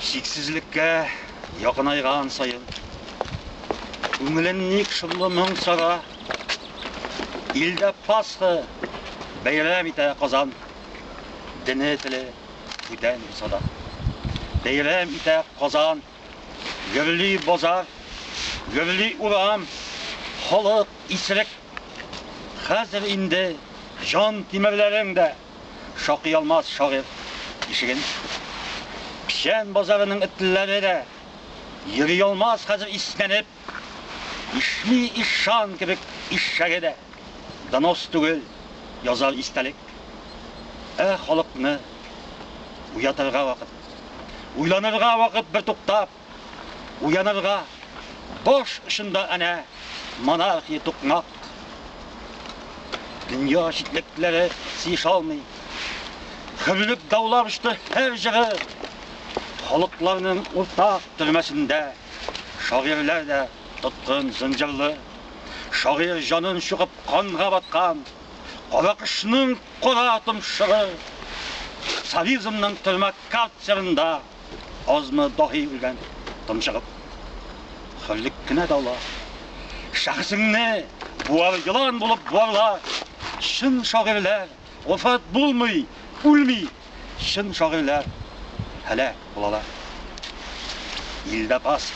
Чиксезлеккә якынайган саен күңелен ник шомлы моң сара? Илдә Пасха бәйрәм итә Казан, дене теле бүтән булса да. Бәйрәм итә Казан, гөрли базар, гөрли урам, халык исерек. Хәзер инде җан тимерләрең дә. шакый алмас шагыйрь ишеген. Печән базарының этләре дә йөри алмас хәзер иснәнеп. Ишми ишан кебек ишәге дә донос түгел, язар истәлек. Ә халыкны уятырга вакыт, уйланырга вакыт бертуктап. Уянырга баш очында әнә монархия тукмак. Дөнья җитлекләре сиеша алмый. Хөрлек даулап очты һәр җыры. Халыкларның уртак төрмәсендә шагыйрьләр дә тоткын зынҗырлы. Шагыйрь җанын чугып канга баткан, кара кышның кара томшыгы. Социализмның төрмә карцерында азмы даһи үлгән томшыгып. Хөллек кенә дала. Шәхесеңне буар елан булып буарла. Чын шагыйрьләр вафат булмый, үлми. Чын шагыйрьләр һәлак булалар. Илдә пас.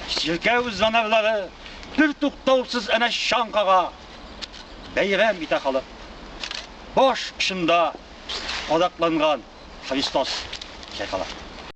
Чиркәү занарлары бер туктаусыз әнә чаң кага. Бәйрәм итә халык. Баш очында кадакланган Христос чайкала.